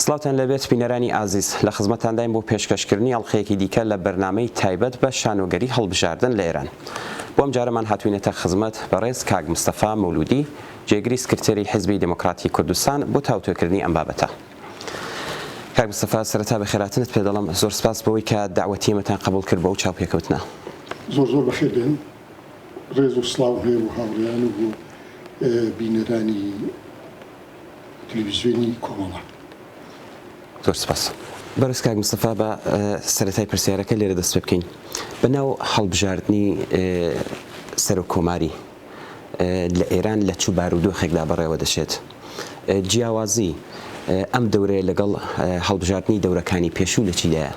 سڵاوتان لەبێت بینەرانی ئازیز لە خزمەتانداین بۆ پێشکەشکردنی ئەڵلقەیەکی دیکە لە بەرنمەی تایبەت بە شانۆگەری هەڵبژاردن لە ئێران بۆم جارەمان هاتوینەتە خزمەت بەڕێز کاک مستەفا مولودی جێگری سکرتێری حزبی دموکراتی کوردستان بۆ تاوتۆکردنی ئەم بابەتە. کاک مستەفا سەرەتا بەخێراتنت پێ دەڵێم، زۆر سپاس بەوەی کە دەعوەتی ئێمەتان قەبووڵ کرد بۆ ئەو چاوپێکەوتنە. زۆر زۆر بەخێر بێن، ڕێز و سڵاوم هەیە بۆ هاوڕێیان و بۆ بینەرانی تلویزیۆنی کۆمەڵە. زۆر سپاس. بەڕێز کاک مستەفا با سەرەتای پرسیارەکە لێرە دەست پێ بکەین، بە ناو هەڵبژاردنی سەرۆک کۆماری، لە ئێران لە چ بارودۆخێکدا بەڕێوە دەچێت؟ جیاوازی ئەم دەورەیە لەگەڵ هەڵبژاردنی دەورەکانی پێشوو لە چیدایە؟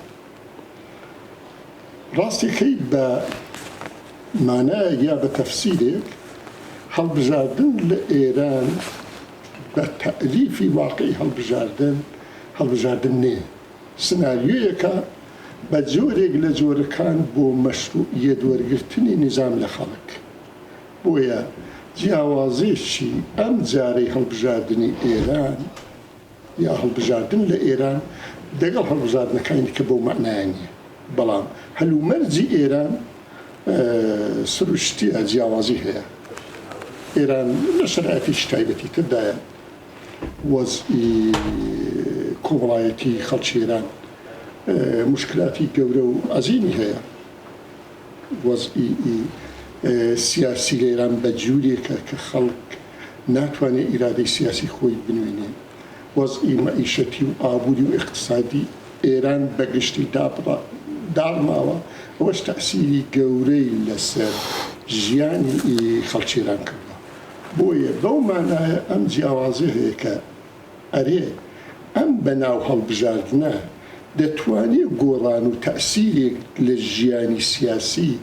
ڕاستەکەی بە مانایەک یا بە تەفسیرێک هەڵبژاردن لە ئێران بە تەئریفی واقعی هەڵبژاردن، هەڵبژاردن نییە. سناریۆیەکە بە جۆرێک لە جۆرەکان بۆ مەشروعیەت وەرگرتنی نیزام لە خەڵک. بۆیە جیاوازیی ئەم جارەی هەڵبژاردنی ئێران یا هەڵبژاردن لە ئێران دەگەڵ هەڵبژاردنەکانی دیکە بەو مەعنایە نییە. بەڵام هەلومەرجی ئێران سروشتییە جیاوازی هەیە. ئێران لە شەرایتێکی تایبەتی تر دایە. وەزعی کۆمەڵایەتی خەڵکی ئێران موشکلاتی گەورە و عەزیمی هەیە. وەزعی سیاسی لە ئێران بە جوورێکە کە خەڵک ناتوانێ ئیرادەی سیاسی خۆی بنوێنێ. وەزعی مەعیشەتی و ئابووری و ئێقتسادی ئێران بە گشتی داڕماوە. ئەوەش تەئسیری گەورەی لە سەر ژیانی خەڵکی ئێران کردووە. بۆیە بەو مانایە ئەم جیاوازیە هەیە کە ئەرێ ئەم بەناو هەڵبژاردنە دەتوانێ گۆڕان و تەئسیرێک لە ژیانی سیاسی،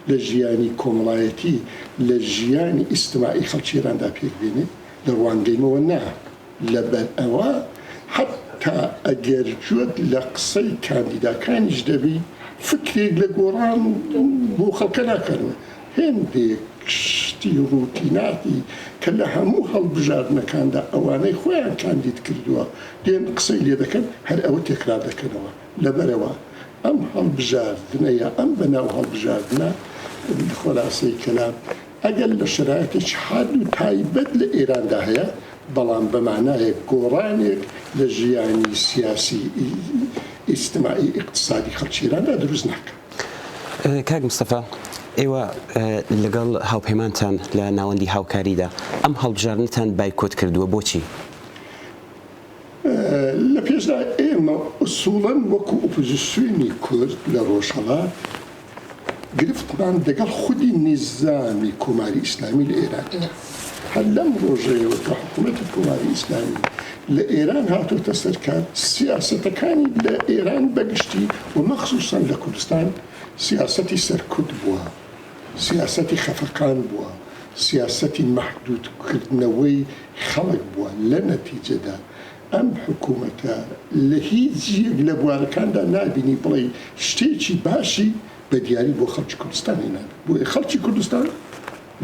لە ژیانی کۆمەڵایەتی، لە ژیانی ئیستماعی خەڵکی ئێراندا پێک بێنێ؟ لە ڕوانگەیمەوە نا، لەبەر ئەوە حەتتا ئەگەر گوێت لە قسەی کاندیداکانیش دەبی فکرێک لە گۆڕان بۆ خەڵکە ناکەنەوە، هێندێک شتی ڕوتیناتی کە لە هەموو هەڵبژاردنەکاندا ئەوانەی خۆیان کاندید کردووە دێن قسەی لێ دەکەن هەر ئەوە تێکرار دەکەنەوە لەبەرئەوە ئەم هەڵبژاردنە یا ئەم بەناو هەڵبژاردنە خولاسەی کەلام ئەگەر لە شەرایتێکی حاد و تایبەت لە ئێراندا هەیە بەڵام بە مانایەک گۆڕانێک لە ژیانی سیاسی ئیجتماعی ئیقتسادی خەڵکی ئێراندا دروست ناکا. کاک مستەفا، ئێوە لەگەڵ هاوپەیمانتان لە ناوەندی هاوکاریدا، ئەم هەڵبژاردنەتان بایکۆت کردووە، بۆچی؟ لە پێشدا ئێمە ئوسووڵەن وەکو ئۆپۆزیسیۆنی کورد لە ڕۆژهەڵات، گرفتمان دەگەڵ خودی نیزامی کۆماری ئیسلامی لە ئێران هەیە. هەر لەم ڕۆژەیەوە کە حکوومەتی کۆماری ئیسلامی لە ئێران هاتۆتە سەر کار، سیاسەتەکانی لە ئێران بە گشتی و مەخسووسەن لە کوردستان سیاسەتی سەرکوت بووە، سیاسەتی خەفەقان بووە، سیاسەتی مەحدوودکردنەوەی خەڵک بووە. لە نەتیجەدا ئەم حکوومەتە لە هیچ یەک لە بوارەکاندا نابینی بڵێی شتێکی باشی بە دیاری بۆ خەڵکی کوردستان هێنابێت. بۆیە خەڵکی کوردستان.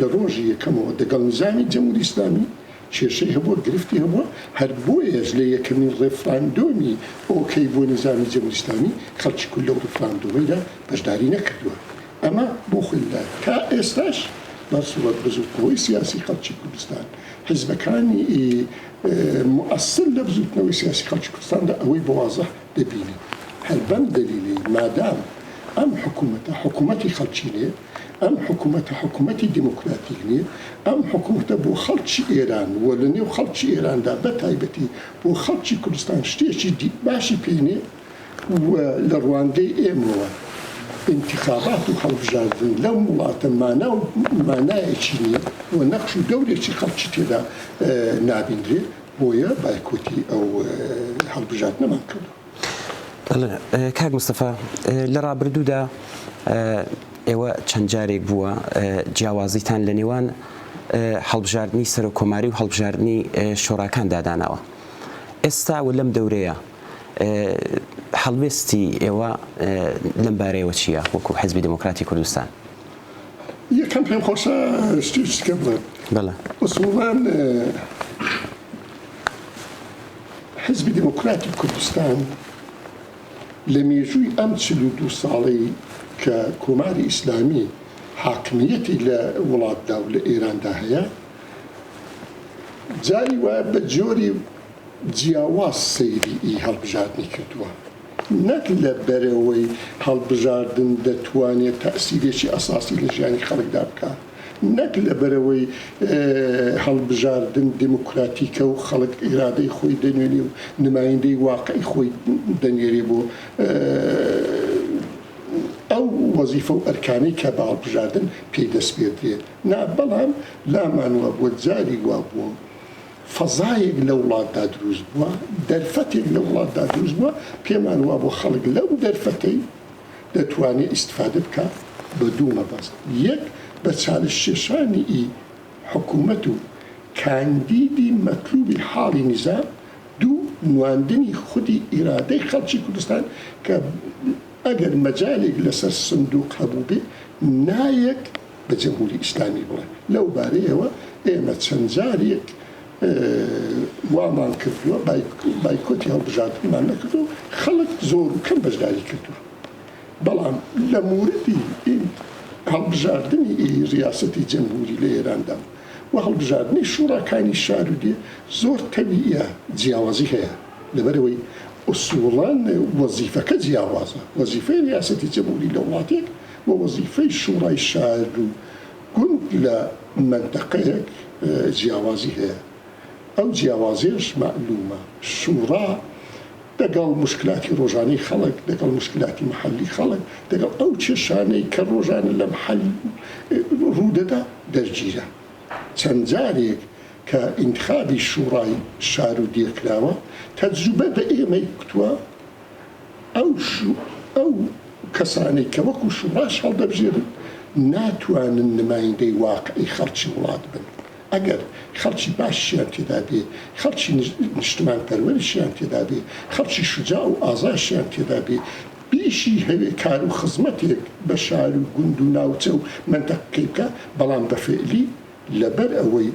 لە ڕۆژی یەکەمەوە دەگەڵ نیزامی جمهوری ئیسلامی کێشەی هەبووە، گرفتی هەبووە، هەر بۆیەش لە یەکەمین ڕێفراندۆمی ئۆکەی بۆ نیزامی جمهوری ئیسلامی خەڵکی کورد لەو ڕێفراندۆمەیدا بەشداری نەکردووە. ئەمە بۆ خۆی لە تا ئێستاش بە سووڕەت بزووتنەوەی سیاسی خەڵکی کوردستان، حیزبەکانی موئەسسن لە بزووتنەوەی سیاسی خەڵکی کوردستاندا ئەوەی بە وازح دەبینین. هەر بەم دەلیلەی مادام ئەم حکوومەتە حکوومەتی خەڵکینەیە، ئەم حکومەتە حکومەتی دیموکراتیک نییە، ئەم حکومەتە بۆ خەڵکی ئێران و لە نێو خەڵکی ئێراندا بە تایبەتی بۆ خەڵکی کوردستان شتێکی دی باشی پێ نییە و لە ڕوانگەی ئێمەوە ئینتخابات و هەڵبژاردن لەم وڵاتە مانا و مانایەکی نییە و نەقش و دەورێکی خەڵکی تێدا نابینرێ بۆیە بایکۆتی ئەو هەڵبژاردنەمان کردووە. کاک مستەفا لە ڕابردوودا ئێوە چەند جارێک بووە جیاوازیتان لە نێوان هەڵبژاردنی سەرۆک کۆماری و هەڵبژاردنی شۆراکان داداناوە ئێستا و لەم دەورەیە هەڵوێستی ئێوە لەم بارەیەوە چییە وەکو حزبی دموکراتی کوردستان یەکەم پێم خۆشە شتێکت کە بڵێم بەڵێ ئوسوڵەن حیزبی دێموکراتی کوردستان لە مێژووی ئەم چل و دوو ساڵەی کە کۆماری ئیسلامی حاکمییەتی لە وڵاتدا و لە ئێراندا هەیە، جاری وایە بە جۆری جیاواز سەیری ئی هەڵبژاردنی کردووە. نەک لە بەرەوەی هەڵبژاردن دەتوانێ تەئسیرێکی ئەساسی لە ژیانی خەڵکدا بکا، نەک لەبەرئەوەی هەڵبژاردن دیموکراتیکە و خەڵک ئیرادەی خۆی دەنوێنێ و نمایندەی واقعی خۆی دەنێرێ بۆ ئەو وەزیفە و ئەرکانەی کە بە هەڵبژاردن پێی دەسپێردرێ نا بەڵام لامان وابووە جاری وابووە فەزایەک لە وڵاتدا دروست بووە دەرفەتێک لە وڵاتدا دروست بووە پێمان وابووە خەڵک لەو دەرفەتەی دەتوانێت ئیستفادە بکا بە دوو مەبەست، یەک بە چالشکێشانی ئی حکوومەت و کاندیدی مەتلووبی حاڵی نیزام، دوو نواندنی خودی ئیرادەی خەڵکی کوردستان کە ئەگەر مەجالێک لە سەر سندووق هەبووبێ نایەت بە جمهووری ئیسلامی بڵێ. لەو بارەیەوە ئێمە چەند جارێک وامان کردووە، بایکۆتی هەڵبژاردنمان نەکردووە و خەڵک زۆر و کەم بەشداری کردووە، بەڵام لە موردی هەڵبژاردنی ریاسەتی جەمهووری لە ئێراندا و وە هەڵبژاردنی شووڕاکانی شار و دێ زۆر تەوییە جیاوازی هەیە، لەبەرئەوەی ئوسووڵەن وەزیفەکە جیاوازە، وەزیفەی ریاسەتی جەمهووری لە وڵاتێک و وەزیفەی شووڕای شار و گوند لە مەنتەقەیەک جیاوازی هەیە، ئەو جیاوازیەش مەعلومە، شوڕا دەگەڵ موشکلاتی ڕۆژانەی خەڵک، دەگەڵ موشکلاتی محەلی خەڵک، دەگەڵ ئەو کێشانەی کە ڕۆژانە لە محەل ڕوودەدا دەرگیرە. چەند جارێک کە ئینتخابی شوڕای شارو دێ کراوە، تەجروبە بە ئێمەی گوتوە، ئەو کەسانەی کە وەکو شوڕاش هەڵدەبژێرن ناتوانن نمایندەی واقعی خەڵکی وڵات بن، ئەگەر خەڵکی باشیشیان تێدا بێ، خەڵکی نیشتمانپەروەریشیان تێدا بێ، خەڵکی شوجاع و ئازایشیان تێدا بێ، بیشی هەوێ کارو خزمەتێک بە شارو گوندو ناوچەو مەنتەقەکەی بکا، بەڵام بە فیعلی. لەبەر ئەوەی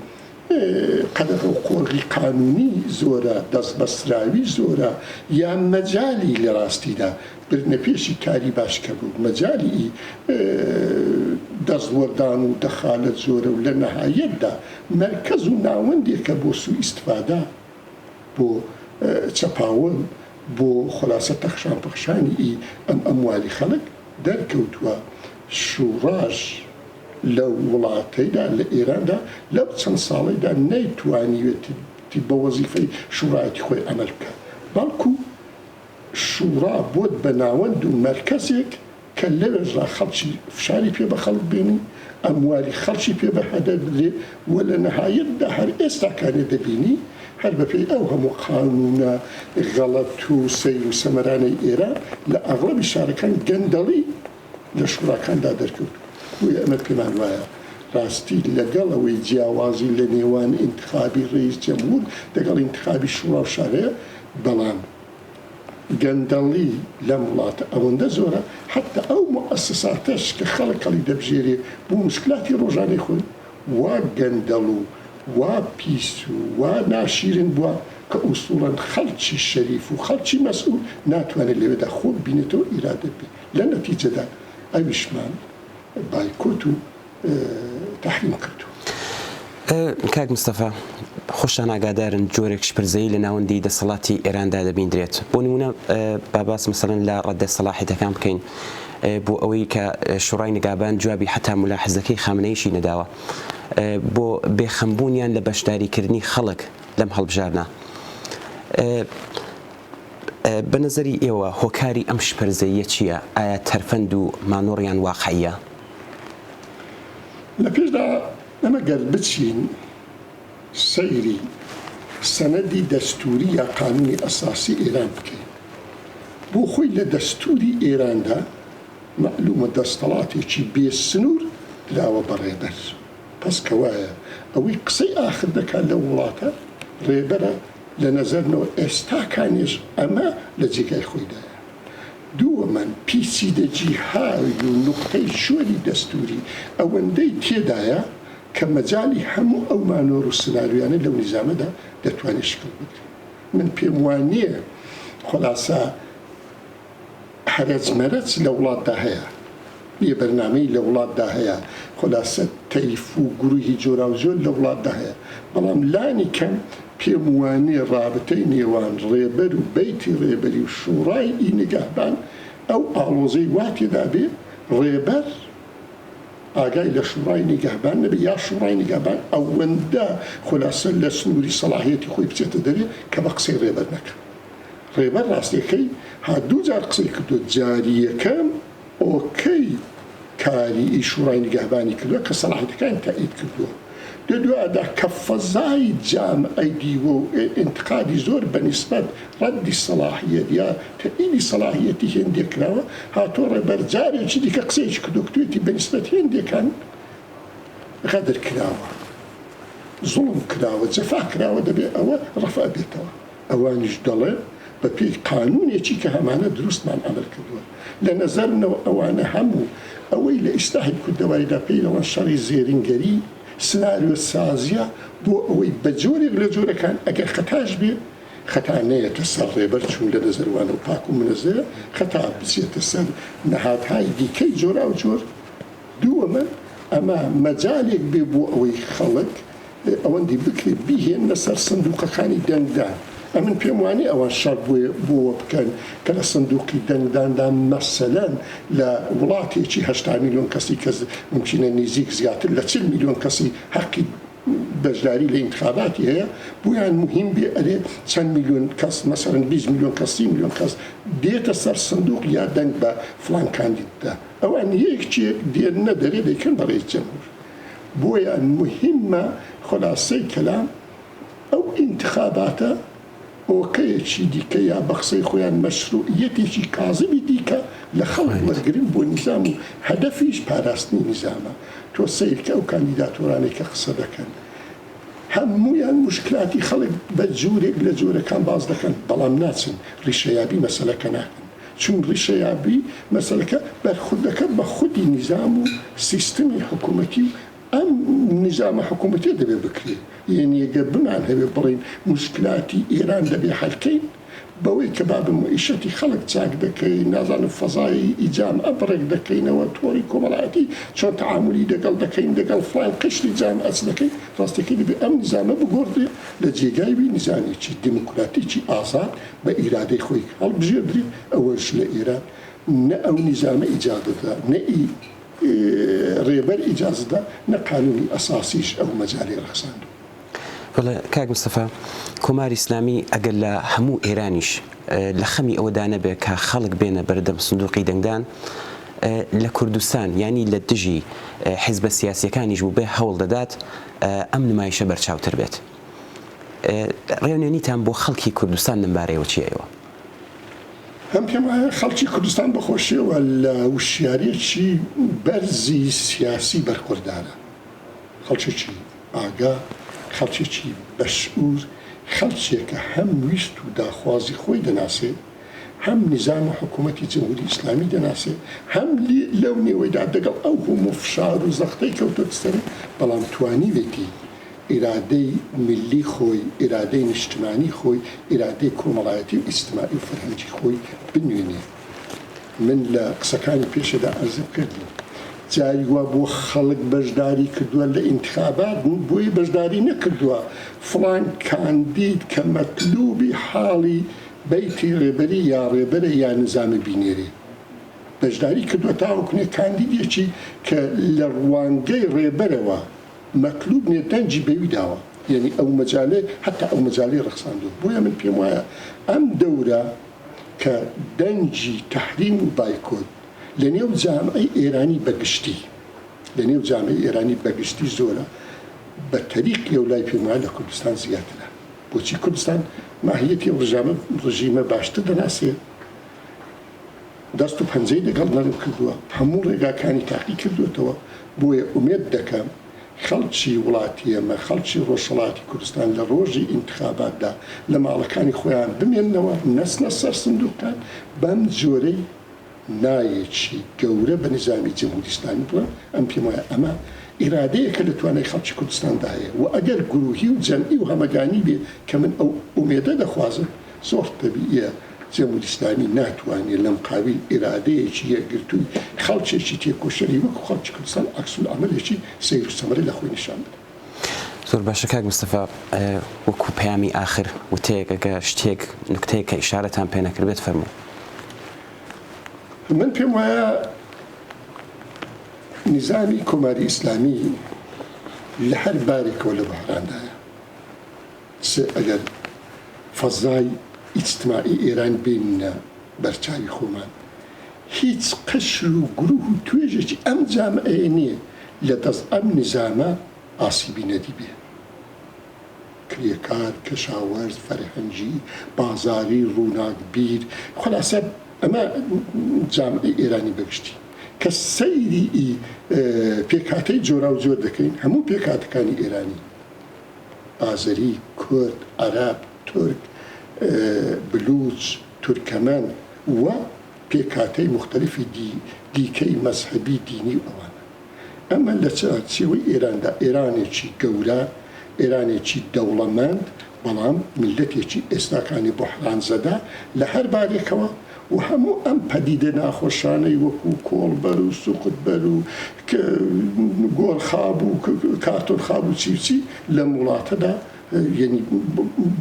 قەدەغە و قۆرغی قانوونی زۆرە، دەستبەستراوی زۆرە، یان مەجالی لە ڕاستیدا بردنەپێشی کاری باش کەم و مەجالی ئی دەستوەردان و دەخالەت زۆرە و لە نەهایەتدا مەرکەز و ناوەندێکە بۆ سوو ئیستفادە، بۆ چەپاون، بۆ خولاسە تەخشان پەخشانی ئی ئەم ئەموالی خەڵک، دەرکەوتووە شووڕاش، لەو وڵاتەیدا، لە ئێراندا، لەو چەند ساڵەیدا نەیتوانیوێتی بە وەزیفەی شوڕایەتی خۆی عەمەل بکات، بەڵکو شوڕا بۆت بە ناوەند و مەرکەزێک کە لەوێشدا خەڵکی فشاری پێ بە خەڵک بێنی، ئەموالی خەڵکی پێ بە هەدەر بدرێ و لە نەهایەتدا هەر ئێستاکانێ دەبینی هەر بە پێی ئەو هەموو قانوونە غەڵەت و سەیر و سەمەرانەی ئێران لە ئەغڵەبی شارەکان گەندەڵی لە شوراکاندا دەرکەوت، بۆیە ئەمە پێمان وایە ڕاستی لەگەڵ ئەوەی جیاوازی لە نێوان ئینتخابی ڕەییس جەمهوور دەگەڵ ئینتخابی شوڕا و شارە یە، بەڵام گەندەڵی لەم وڵاتە ئەوەندە زۆرە حەتتا ئەو موئەسساتەش کە خەڵک هەڵی دەبژێرێ بۆ موشکلاتی ڕۆژانەی خۆی وا گەندەڵ و وا پیس و وا ناشیرن بوە کە ئوسوڵەن خەڵکی شەریف و خەڵکی مەسئوول ناتوانێ لەوێدا خۆ ببینێتەوە و ئیرادە بێ لە نەتیجەدا ئەویشمان بایکۆت و تەحریم کردووە. کاک مستەفا، خۆشتان ئاگادارن جۆرێک شپرزەیی لە ناوەندی دەسەڵاتی ئێراندا دەبیندرێت. بۆ نموونە با باس مەسەلەن لە ڕەددە سەلاحیەتەکان بکەین بۆ ئەوەی کە شوڕای نیگابان جوابی حەتا مولاحزەکەی خامنەییشی نەداوە بۆ بێخەمبوونیان لە بەشداریکردنی خەڵک لەم هەڵبژاردنە. بە نەزەری ئێوە هۆکاری ئەم شپرزەییە چییە؟ ئایا تەرفەند و مانۆڕ یان واقعییە؟ لە پێشدا ئێمە گەر بچین سەیری سەنەدی دەستووری یا قانوونی ئەساسی ئێران بکەین، بۆ خۆی لە دەستووری ئێراندا مەعلوومە دەستەڵاتێکی بێ سنوور دراوە بە ڕێبەر، پس کەوایە ئەوەی قسەی ئاخر دەکات لەو وڵاتە ڕێبەرە، لە نەزەرنەوە ئێستاکانیش ئەمە لە جێگای خۆیدایە. دووەمەن، پیچیدە جیهاوی و نوقتەی شۆری دەستووری ئەوەندەی تێدایە کە مەجالی هەموو ئەو مانۆر و سناریۆیانە لەو نیزامەدا دەتوانێت شکڵ بگرێت. من پێم وانییە خولاسە. هەرەج مەرەج لە وڵاتدا هەیە بێ بەرنامەی لە وڵاتدا هەیە خولاسە تەیف و گروهی جۆراوجۆر لە وڵاتدا هەیە بەڵام لانی کەم پێم وانیە ڕابتەی نێوان ڕێبەر و بەیتی ڕێبەری و شوڕای ئی نگەهبان ئەو ئاڵۆزەی وا تێدا بێ ڕێبەر ئاگای لە شوڕای نیگەهبان نەبێ یا شوڕای نیگەهبان ئەوەندە خولاسە لە سنووری سەڵاحیەتی خۆی بچێتە دەرێ کە بە قسەی ڕێبەر نەکا ڕێبەر ڕاستیەکەی ها دوو جار قسەی کردوە جاری یەکەم ئۆکەی کاری ی شوڕای نیگەهبانی کردوە کە سەلاحیتەکانی تائید کردوە دە دوادا کە فەزای جامعەی دیوە و ئینتقادی زۆر بە نیسبەت ڕەدی سەلاحیەت یا تائیدی سەلاحیەتی هێندێک کراوە هاتوە ڕێبەر جارێکی دیکە قسەیەکی کردوە کتوێتی بە نیسبەت هێندێکان غەدر کراوە زوڵم کراوە جەفا کراوە دەبێ ئەوە ڕەفع بێتەوە. ئەوانیش دەڵێن، بە پێی قانوونێکی کە هەمانە دروستمان ئەمر کردووە. لە نەزەرمنەوە ئەوانە هەموو ئەوەی لە ئیسلاحی کوردەواریدا پێی دەڵێن شەڕی زێرینگەری، سناریۆ سازییە بۆ ئەوەی بە جۆرێک لە جۆرەکان ئەگەر خەتاش بێ، خەتا نەیەتە سەر ڕێبەر چوون لە نەزەر وانەوە پاک و منەزەیە، خەتا بچێتە سەر نەهادهای دیکەی جۆراوجۆر. دووەمە ئەمە مەجالێک بێ بۆ ئەوەی خەڵک ئەوەندی بکرێت بیهێننە سەر سندوقەکانی دەنگدان، ئەمن پێم وانیە ئەوان شەڕ بۆوە بکەن کە لە سندوقی دەنگداندا مەسەلەن لە وڵاتێکی هەشتا ملیۆن کەسی کە مومکینە نیزیک زیاتر لە چل ملیۆن کەسی هەقی بەشداری لە ئینتخاباتی هەیە بۆیان موهیم بێ ئەرێ چەند ملیۆن کەس مەسەلەن بیست ملیۆن کەس سی ملیۆن کەس دێتە سەر سندوق یا دەنگ بە فڵان کاندیددا ئەوان یەک چێک دێننە دەرێ دەیکەن بەڕێی جەمهور بۆیە موهیمە خولاسەی کەلام ئەو ئینتخاباتە ئۆکەیەکی دیکە یا بە قسەی خۆیان مەشروعیەتێکی کازمی دیکە لە خەڵک وەرگرن بۆ نیزام و هەدەفیش پاراستنی نیزامە تۆ سەیرکە ئەو کاندیداتۆرانەی کە قسە دەکەن هەموویان موشکلاتی خەڵک بە جورێک لە جۆرەکان باس دەکەن بەڵام ناچن ڕیشەیابی مەسەلەکە ناکەن چون ڕیشەیابی مەسەلەکە بەرخوردەکە بە خودی نیزام و سیستمی حکوومەتی و ئەم نیزامە حکوومەتیە دەبێ بکرێ. یەنی گەر بمانهەوێ بڵێین موشکلاتی ئێران دەبێ حەل کەین بەوەی کە بابە مویشەتی خەڵک چاک دەکەین، نازانم فەزای ئیجام ئەپ ڕێک دەکەینەوە، تۆڕی کۆمەڵایەتی چۆن تەعامولی دەگەڵ دەکەین، دەگەڵ فڵان قشری جامعەچ دەکەین، ڕاستەکەی دەبێ ئەم نیزامە بگۆڕدرێ لە جێگای وی نیزامێکی دیموکراتیکی ئازاد، بە ئیرادەی خۆی هەڵبژێردرێ ئەوەش لە ئێران نە ئەو نیزامە ئیجازەدا نە ئی رێبەر ئیجازەدا نە قانونی ئەساسیش ئەو مەجالی رەخساندوە. وەڵا کاک مستەفا کۆماری ئیسلامی ئەگەر لە هەموو ئێرانیش لە خەمی ئەوەدا نەبێ کە خەڵک بێنە بەردەم سندوقی دەنگدان لە کوردستان یانی لە دژی حیزبە سیاسیەکانیش بووبێ هەوڵ دەدات ئەم نمایشە بەرچاوتر بێت. ڕێونێنیتان بۆ خەڵکی کوردستان لەم بارەیەوە چیەیەوە؟ من پێم وایە خەڵکی کوردستان بە خۆشیەوە لە وشیاریەکی بەرزی سیاسی بەرخوردارە. خەڵکێکی ئاگا، خەڵکێکی بەشعور، خەڵکێکە هەم ویست و داخوازی خۆی دەناسێ، هەم نیزام و حکوومەتی جمهووری ئیسلامی دەناسێ، هەم لەو نێوەیدا دەگەڵ ئەو هەموو فشار و زەختەی کەوتۆتە سەری، بەڵام توانیوێتی ئیرادەی میللی خۆی، ئیرادەی نیشتمانی خۆی، ئیرادەی کۆمەڵایەتی و ئیجتماعی و فەرهەنگی خۆی بنوێنێ. من لە قسەکانی پێشەدا عەرزم کردووە، جاری وا بووە خەڵک بەشداری کردووە لە ئینتخابات، بۆیە بەشداری نەکردووە، فڵان کاندید کە مەتلووبی حاڵی بەیتی ڕێبەری یا ڕێبەرە یا نیزامی بینێرێ. بەشداری کردووە تاوەکو نێ کاندیدێکی کە لە ڕوانگەی ڕێبەرەوە مەتلوب نێودەنگی بەوی داوە یەنی ئەو مەجالەی هەتا ئەو مەجالەی ڕەخساندوە بۆیە من پێم وایە ئەم دەورە کە دەنگی تەحریم و بایکۆت لە نێو جامعەی ئێرانی بە گشتی لە نێو جامعەی ئێرانی بە گشتی زۆرە بە تەریق لەو لای پێم وایە لە کوردستان زیاترە بۆچی کوردستان ماهیەتی ئەو ڕژامە ڕژیمە باشتر دەناسێ دەست و پەنجەی لەگەڵ نەرم کردووە، هەموو ڕێگاکانی تاقی کردووەتەوە، بۆیە ئومێد دەکەم خەڵکی وڵاتی ئێمە، خەڵکی ڕۆژهەڵاتی کوردستان لە ڕۆژی ئینتخاباتدا لە ماڵەکانی خۆیان بمێننەوە، نەچنە سەر سندووقەکان، بەم جۆرەی نایەکی گەورە بە نیزامی جمهوری ئیسلامی بڵێم، ئەم پێم وایە ئەمە ئیرادەیە کە لە توانای خەڵکی کوردستاندا هەیە و ئەگەر گروهی و جەمعی و هەمەگانی بێ کە من ئەو ئومێدە دەخوازم، زۆر تەبییە جموریسلامی ناتوانێ لەمقابیل ئیرادەیەکی یەکگرتووی خەڵکێکی تێکۆشەری وەکو خەڵکی کوردستان عەکسولعەمەلێکی سەیرو سەمەرە لەخۆی نیشان بدات. زۆر باشە کاک مستەفا وەکو پەیامی ئاخر وتەیەک ئەگە شتێک نوکتەیەک کە ئیشارەتان پێ نەکردبێت فەرموون. من پێم وایە نیزامی کۆماری ئیسلامی لە هەر بارێکەوە لە بوحراندایە. سێ ئەگەر فەزای ئیجتماعی ئێران بێنینە بەرچاوی خۆمان، هیچ قشر و گروه و توێژێکی ئەم جامعەیە نییە لە دەست ئەم نیزامە ئاسیبی نەدیبێ. کرێکار، کەشاوەرز، فەرهەنگی، بازاری، ڕووناکبیر، خولاسە ئەمە جامعەی ئێرانی بە گشتی کە سەیری ئی پێکهاتەی جۆراوجۆر دەکەین، هەموو پێکهاتەکانی ئێرانی، ئازەری، کورد، عەرەب، تورک، بلووچ، تورکەمەن و پێکهاتەی موختەلیفی دیکەی مەزهەبی دینی و ئەوانە. ئەمە لە چوارچێوەی ئێراندا، ئێرانێکی گەورە، ئێرانێکی دەوڵەمەند، بەڵام میللەتێکی ئێستاکانی بوحرانزەدە لە هەر بارێکەوە، و هەموو ئەم پەدیدە ناخۆشانەی وەکو کۆڵبەر و سوقتبەر و گۆرخاب و کارتۆنخاب و چی و چی لەم وڵاتەدا یەنی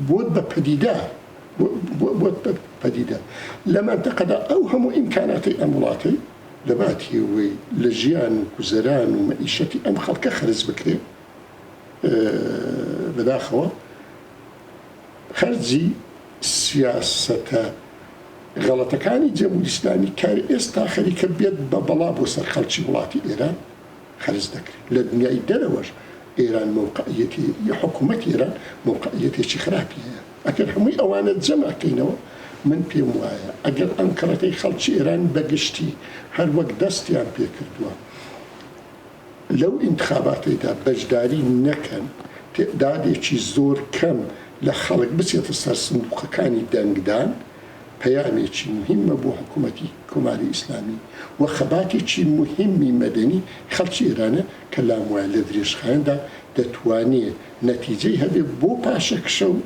بۆت بە پەدیدە بۆت بە پەدیدە لە مەنتەقەدا ئەو هەموو ئیمکاناتی ئەم وڵاتەی لەباتی ئەوەی لە ژیان و گوزەران و مەئیشەتی ئەم خەڵکە خەرج بکرێ بەداخەوە خەرجی سیاسەتە غەڵەتەکانی جەمهوری ئیسلامی کە ئێستا خەریکە بێت بە بەڵا بۆ سەر خەڵکی وڵاتی ئێران خەرج دەکرێت. لە دنیای دەرەوەش ئێران مەوقعیەتی ی حکومەتی ئێران مەوقعیەتێکی خراپی هەیە. ئەگەر هەمووی ئەوانە جەمع کەینەوە من پێم وایە ئەگەر ئەنقەرەکەی خەڵکی ئێران بە گشتی هەر وەک دەستیان پێ کردووە، لەو ئینتخاباتەیدا بەشداری نەکەن، تێدادێکی زۆر کەم لە خەڵک بچێتە سەر سندوقەکانی دەنگدان، پەیامێکی موهیمە بۆ حکومەتی کۆماری ئیسلامی و خەباتێکی موهیمی مەدەنی خەڵکی ئێرانە کە لاموایە لە درێژخایەندا دەتوانێ نەتیجەی هەبێ بۆ پاشەکشە و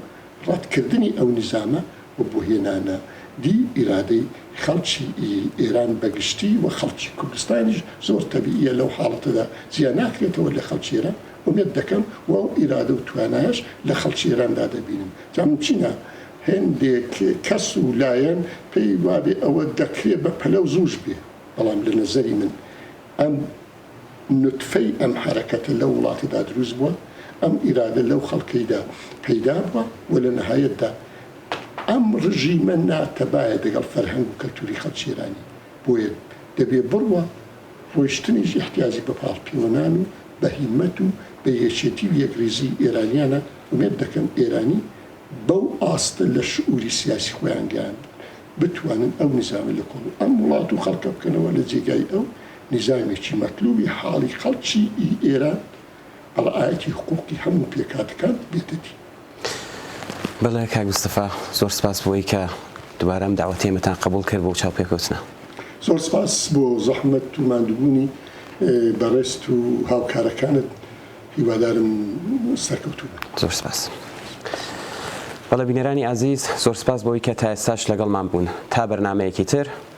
ڕەتکردنی ئەو نیزامە و بۆ هێنانە دی ئیرادەی خەڵکی ئێران بە گشتی و خەڵکی کوردستانیش زۆر تەبییە لەو حاڵەتەدا جیا ناکرێتەوە لە خەڵکی ئێران ئومێد دەکەم و ئەو ئیرادە و توانایەش لە خەڵکی ئێراندا دەبینن جا مومکینە هێندێک کەس و لایەن پێی وابێ ئەوە دەکرێ بە پەلە و زووش بێ بەڵام لە نەزەری من ئەم نوتفەی ئەم حەرەکەتە لەو وڵاتەدا دروست بووە، ئەم ئیرادە لەو خەڵکەیدا پەیدا بووە و لە نەهایەتدا ئەم ڕژیمە ناتەبایە دەگەڵ فەرهەنگ و کەلتووری خەڵکی ئێرانی، بۆیە دەبێ بڕوا ڕۆیشتنیش ئیحتیاجی بە پاڵپیوەنان و بە هیممەت و بە یەکێتی و یەکڕیزیی ئێرانییانە، ئومێد دەکەم ئێرانی بەو ئاستە لە شعووری سیاسی خۆیان گەیاندوون بتوانن ئەو نیزامە لە کۆڵ ئەم وڵات و خەڵکە بکەنەوە لە جێگای ئەو نیزامێکی مەتلوبی حاڵی خەڵکی ئێران بە ڕەعایەتی حقووقی هەموو پێکهاتەکان ببێتە دی. بەڵێ کاک مستەفا، زۆر سپاس بۆوەی کە دوبارە ئەم دەعوەتەی ئێمەتان قەبووڵ کرد بۆ چاوپێکەوتنە. زۆر سپاس بۆ زەحمەت و ماندووبوونی بەڕێزت و هاوکارەکانت، هیوادارم سەرکەوتوو بن. زۆر سپاس. بەڵێ بینەرانی ئازیز، زۆر سپاس بۆوەی کە تا ئێستاش لەگەڵمان بوون. تا بەرنامەیەکی تر،